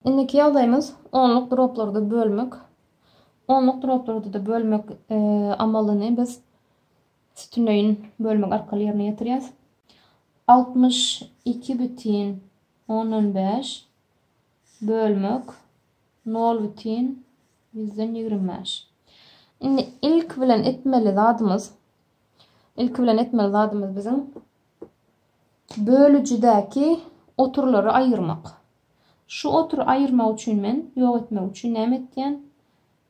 Indiki ýagdaýymyz onluk droplarda bölmek. Onluk droplarda-da bölmek e, amalyny biz sütünleýin bölmek arkaly ýerine ýetirýäris. 62 bütin 10-15 bölmek 0 bütin 125. Indi ilk bilen etmeli zadymyz ilk bilen etmeli zadymyz biziň bölüjidäki oturlary aýyrmak. Şu otury aýyrmak üçin men, ýok etmek üçin näme etýän?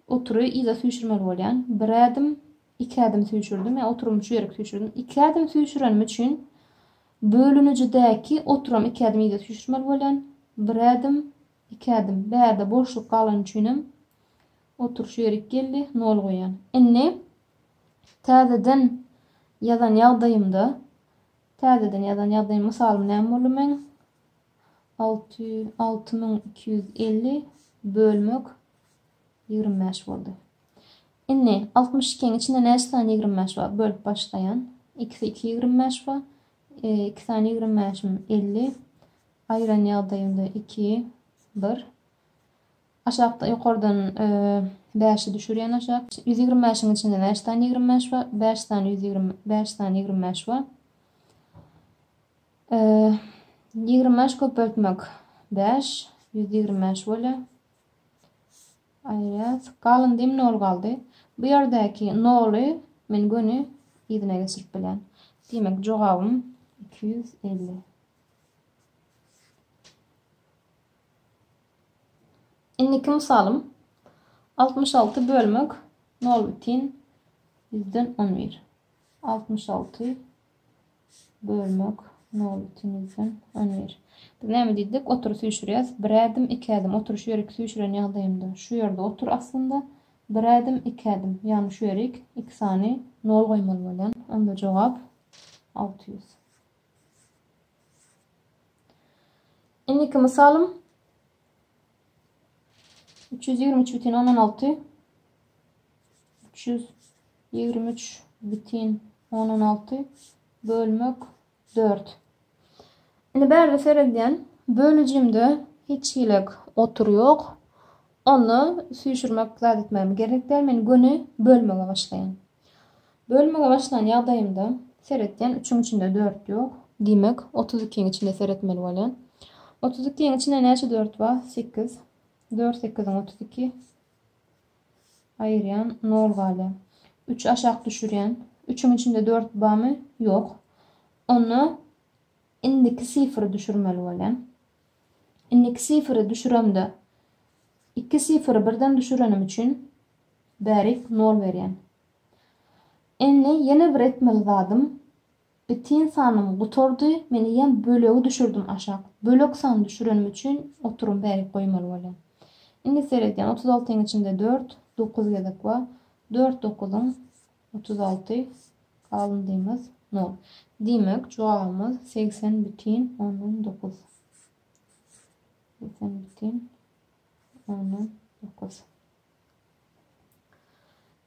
Otury yza süýşürmeli bolýan. Bir ädim, iki ädim süýşürdim ýa oturymy şu ýerik süýşürdim. Iki ädim süýşürenim üçin bölünijidäki oturam iki ädim yza süýşürmeli bolýan. Bir ädim, iki ädim. Bärde boşluk galany üçinem otur şu ýerik geldi, nol goýýan. Indi täzeden ýazan ýagdaýymda, täzeden ýazan ýagdaýym, mysalym näme boldy meň? Alty alty müň iki ýüz elli bölmek ýigrimi bäş boldy. Indi altmyş ikiň içinde näçe sany ýigrimi bäş bar? Bölüp başlaýan. Ikisi iki ýigrimi bäş bar. E, iki sany ýigrimi bäşim elli. Aýyran ýagdaýynda iki, bir. Aşakda ýokardan e, bäşi düşürýän aşak. Ýüz ýigrimi bäşiň içinde näçe sany ýigrimi bäş bar? Bäş sany ýüz ýigrimi bäş sany ýigrimi bäş bar. Ýigrimi bäş köpeltmek bäş, ýüz ýigrimi bäş bolýar. Aýrat, galyndy nol galdy. Bu ýerdäki noly men göni yzyna geçirip bilýän. Diýmek, jogabym iki ýüz elli. Indiki mysalym altmyş alty bölmek nol bütin ýüzden on bir. Altmyş alty Bölmek, nol ikiňizden on bir. Biz näme diýdik, otury süýşürýäs, bir ädim, iki ädim, otury şu ýerik süýşüren ýagdaýymda, şu ýerde otur aslynda, bir ädim, iki ädim, ýagny şu ýerik, iki sany nol goýmaly bolýan, onda jogap alty ýüz. Indiki mysalym. Üç ýüz ýigrimi üç bütin ondan alty. Üç ýüz ýigrimi üç bütin ondan alty bölmek dört. Indi bärde seredýän bölüjimde hiç hilek otur ýok. Onda süýşürmek zat etmegim gerek däl. Men göni bölmege başlaýan. Bölmege başlan ýagdaýymda seretýän, üçüň içinde dört ýok. Diýmek, otuz ikiň içinde seretmeli bolýan. Otuz ikiň içinde näçe dört bar? Sekiz. Dört sekiziň otuz iki. Aýyrýan, nol galýar. Üç aşak düşürýän. Üçüň içinde dört barmy? Ýok. Onda indiki sifiri düşürmeli bolýan. Indiki sifiri düşüremde iki sifiri birden düşürenim üçin Bärik nol berýän. Indi ýene bir etmeli zadym bitin sanym gutardy men eýýäm bölegi düşürdim aşak bölek san düşürenim üçin oturum bärik goýmaly bolýan. Indi seredýän otuz altyň içinde dört dokuz gezek bar dört dokuzyň otuz alty galndymyz nol diýmek jogabymyz segsen bütin ondan dokuz segsen bütin ondan dokuz.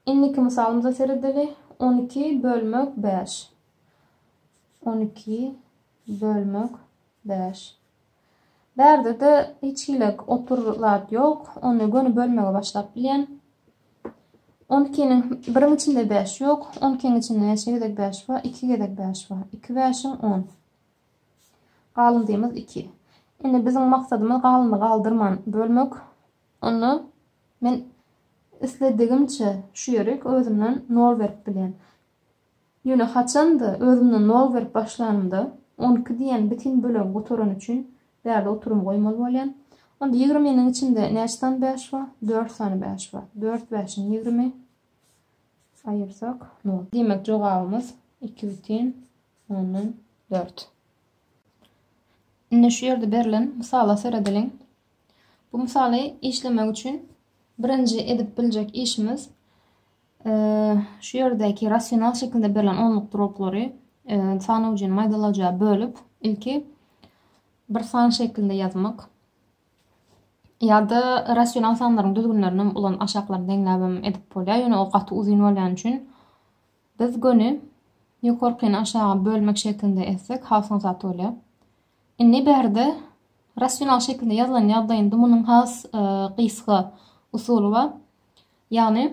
Indiki mysalymyza seredeli. On iki bölmek bäş. On iki bölmek bäş. Bärde-de hiç hili otur zat ýok. Ony göni bölmege başlap bilýän. On ikiniň biriň içinde bäş ýok. On ikiň içinde näçe gezek bäş bar? Iki gezek bäş bar. Iki bäşiň on. Galyndymyz iki. Indi biziň maksadymyz galyndy galdyrman bölmek. Onda men isledigimçe şu ýeri özümden nol berip bilýän. Ýöne haçan-da özümden nol berip başlanymda, on iki diýen bitin bölegi gutarany üçin bärde oturymy goýmaly bolýan. Onda ýigriminiň içinde näçe sany bäş bar? Dört sany bäş bar. Dört bäşiň ýigrimi aýyrsak, nol. Diýmek, jogabymyz iki bitin ondan dört. Indi şu ýerde berlen mysala seredeliň. Bu mysaly işlemek üçin birinji edip biljek işimiz şu ýerdäki rasional şekilde berlen onluk droplary san ucun maýdalaja bölüp ilki bir san şeklinde ýazmak ýa-da rasional sanlaryň düzgünlerini ulan aşaklaryny deňläbem edip bolýar. Ýöne o gaty uzyn bolýan üçin biz göni ýokarkyny aşaga bölmek şeklinde etsek has ozat bolýar. Indi bärde rasional şekilde ýazylan ýagdaýynda munuň has gysga usuly bar. Ýagny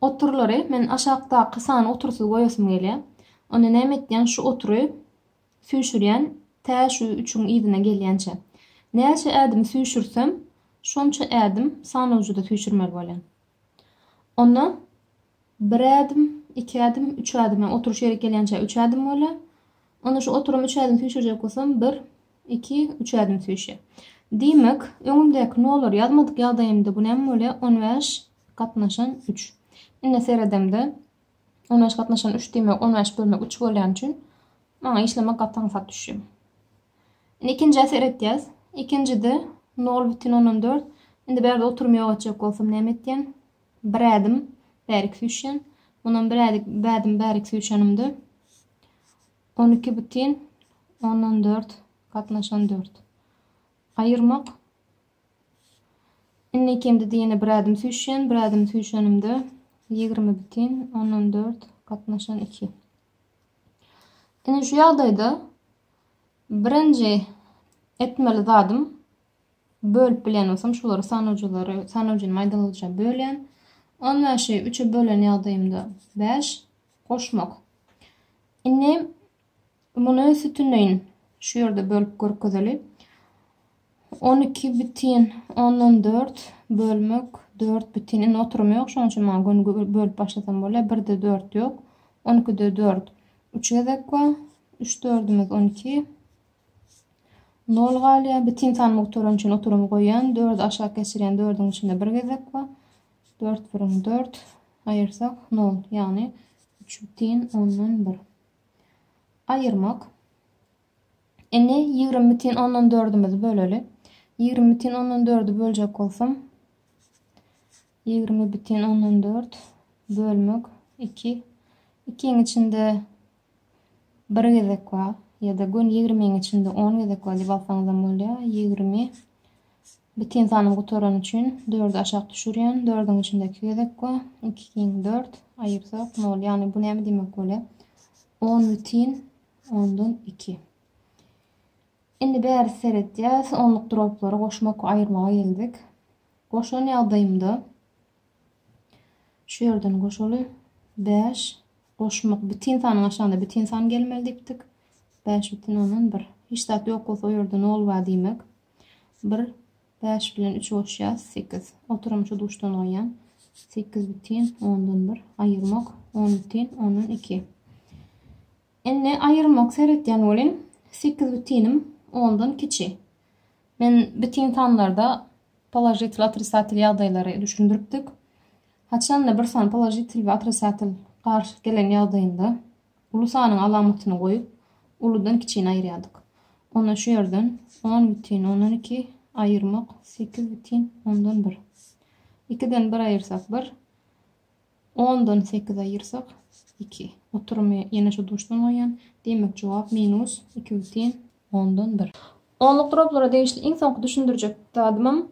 oturlary men aşakdaky sany otursyz goýasym gelýär. Onda näme etýän şu otury süýşürýän tä şu üçüň yzyna gelýänçe. Näçe ädim süýşürsem şonça ädim sanawjyda süýşürmeli bolýan. Onda bir ädim, iki ädim, üç ädim, ýa oturyş ýerik gelýänçä üç ädim bolýar. Onda şu oturum üç ädim süýşürjek bolsam, bir, iki, üç ädim süýşýär. Diýmek, öňümdäki nolary ýazmadyk ýagdaýymda bu näme bolýar? On bäş gatnaşan üç. Indi seredemde, On bäş gatnaşan üç diýmek, on bäş bölmek üç bolýany üçin maňa işlemek gaty aňsat düşýär. Indi ikinjä seretýäs. Ikinjide nol bütin ondan dört. Indi bärde oturum ýok etjek bolsam näme etýän? Bir ädim bärik süýşýän. Mundan bir ädik bädim bärik süýşenimde on iki bütin ondan dört gatnaşan dört. Aýyrmak Indi ikimiz diýeni bir ädim süýşýän, bir ädim süýşenimde ýigrimi bütin ondan dört gatnaşan iki. Indi şu ýagdaýda birinji etmeli zadym bölüp bilýän bolsam şulary sanawjylary sanawjyny maýdalyja bölýän. 15-i 3-e bölen ýagdaýymda 5 goşmak. Indi Muny sütüneýin şu ýerde bölüp görkezeli. On iki bütin ondan dört bölmek dört bütin. Indi oturum ýok, şonuň üçin maňa göni bölüp başlasam bolýar. Birde dört ýok. On ikide dört. Üç gezek bar. Üç dördümiz on iki. Nol galýar. Bütin sanymy gutaran üçin oturymy goýýan. Dördü aşak geçirýän dördüň içinde bir gezek bar. Dört birin dört. Aýyrsak nol. Ýagny üç bütin ondan bir. Aýyrmak. Indi ýigrimi bütin ondan dördümizi böleli. Ýigrimi bütin ondan dördü böljek bolsam, ýigrimi bütin ondan dört bölmek iki. Ikiň içinde bir gezek bar ýa-da gün ýigrimiň içinde on gezek bar diýip alsaňyzam bolýar. Ýigrimi Biten sanyň gutarany üçin dördi aşak düşürýän, dördüň içinde iki gezek we iki giň dört, aýyrsak nol. Ýagny bu näme diýmek bolýa? On bitin ondan iki. Indi bäri seretýäs, onluk droplary goşmak we aýyrmaga geldik. Goşan ýagdaýymda şu ýerden goşaly bäş goşmak bitin sanyň aşagynda bitin san gelmeli diýipdik. Bäş bitin ondan bir. Hiç zat ýok bolsa o ýerde nol bar diýmek. Bir bäş bilen üçi goşýas, sekiz. Oturymy şu duşdan goýýan. Sekiz bütin ondan bir. Aýyrmak on bütin ondan iki. Indi aýyrmak seretýän welin, sekiz bütinim ondan kiçi. Men bütin sanlarda položitel otrisatel ýagdaýlary düşündiripdik. Haçanda bir san položitel we otrisatel garşy gelen ýagdaýynda Uly sanyň alamatyny goýup, uludan kiçini aýyrýardyk. Onda şu ýerden on bütin ondan iki aýyrmak sekiz bütin ondan bir. Ikiden bir aýyrsak bir, ondan sekiz aýyrsak iki. Oturymy ýene şu duşdan goýýan. Diýmek jogap minus iki bütin ondan bir. Onluk droplara degişli iň soňky düşündirjek zadymam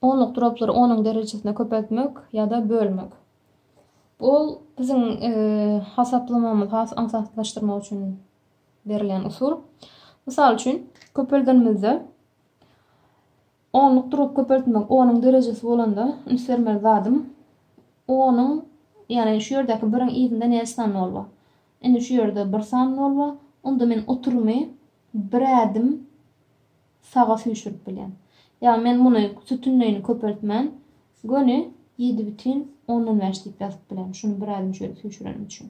Onluk droplary onuň derejesine köpeltmek ýa-da bölmek. Ol biziň hasaplamamyzy has aňsatlaşdyrmak üçin berilýän usul. Mysal üçin, köpeldenimizde onluk drop köpeltmek onuň derejesi bolanda üns bermeli zadym onuň ýagny şu ýerdäki biriň yzynda näçe san nol bar? Indi şu ýerde bir san nol bar. Onda men oturymy bir ädim saga süýşürip bilýän. Ýa men muny sütünleýini köpeltmän göni ýedi bütin ondan bäş diýip ýazyp bilerin şuny bir ädim şeýle süýşürenim üçin.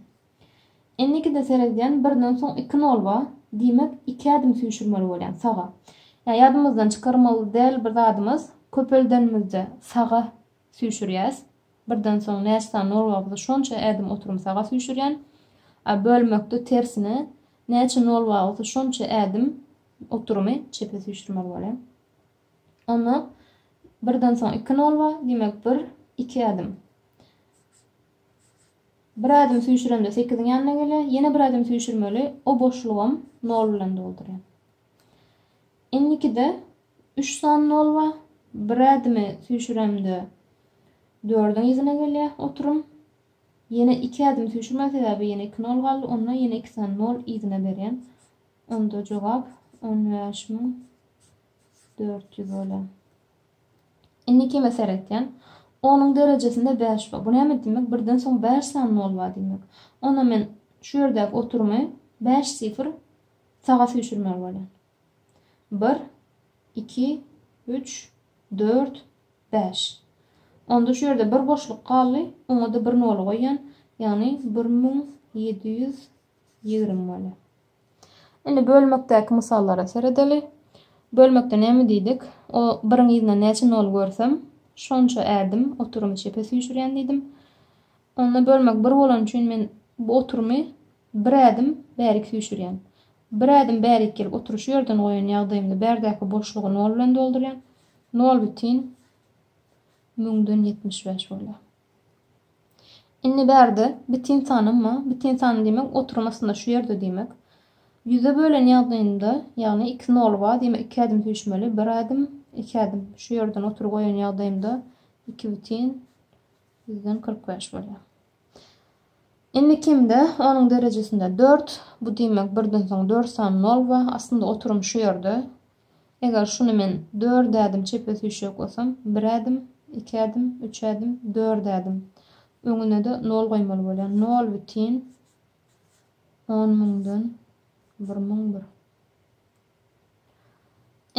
Indikide seredýän birden soň iki nol bar diýmek iki ädim süýşürmeli bolýan saga. Ýa ýadymyzdan çykarmaly däl bir zadymyz köpeldenimizde saga süýşürýäs birden soň näçe sany nol barmysa şonça ädim oturum saga süýşürýän. A bölmekde tersine näçe nol bar bolsa şonça ädim Oturymy çepe süýşürmeli bolýar. Onda birden soň iki nol bar, diýmek bir, iki ädim. Bir ädim süýşüremde sekiziň ýanyna gelýär, ýene bir ädim süýşürmeli, o boşlugam nol bilen doldurýar. Indikide üç sany nol bar, bir ädimi süýşüremde dördüň yzyna gelýär oturym. Ýene iki ädim süýşürmeli, sebäbi ýene iki nol galdy, onda ýene iki sany nol yzyna berýän. Onda jogap on bäş müň dört ýüz bola. Indi kime seretýän? Onuň derejesinde bäş bar. Bu näme diýmek? Birden soň bäş sany nol bar diýmek. Onda men şu ýerdäki oturymy bäş sifr saga süýşürmeli bolýan. Bir, iki, üç, dört, bäş. Onda şu ýerde bir boşluk galdy, oňa-da bir noly goýýan, ýagny bir müň ýedi ýüz Ýigrimi bolýar. Indi bölmekdäki mysallara seredeli. Bölmekde näme diýdik? O biriň yzyna näçe nol görsem, şonça ädim oturymy çepe süýşürýän diýdim. Onda bölmek bir bolany üçin men bu oturymy bir ädim bärik süýşürýän. Bir ädim bärik gelip otury şu ýerden goýan ýagdaýymda bärdäki boşlugy nol bilen doldurýan. Nol bütin müňden ýetmiş bäş bolýar. Indi bärde bitin sany ma, bitin sany diýmek oturum aslynda şu ýerde diýmek. Ýüze bölen ýagdaýynda, ýagny iki nol bar diýmek iki ädim süýşmeli, bir ädim, iki ädim şu ýerden otury goýan ýagdaýymda iki bitin ýüzden kyrk bäş bolýar. Indi kimde onuň derejesinde dört, bu diýmek birden soň dört sany nol bar, aslynda oturum şu ýerde. Eger şuny men dört ädim çepe süýşek bolsam, bir ädim, iki ädim, üç ädim, dört ädim. Öňüne-de nol goýmaly bolýan. Nol bütin on müňden bir müň bir.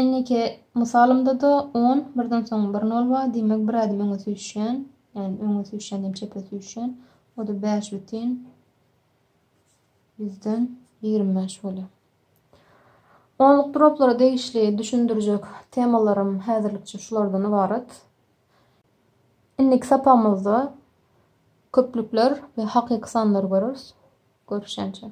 Indiki mysalymda-da on, birden soň bir nol bar, diýmek bir ädim öňe süýşýän, ýagny öňe süýşýän diýen çepe süýşýän. O-da bäş bütin Bizden ýigrimi bäş bolýar. Onluk droplara degişli düşündirjek temalarym häzirlikçe şulardan ybarat. Indiki sapagymyzda köplükler we hakyky sanlary göreris. Görüşýänçäk.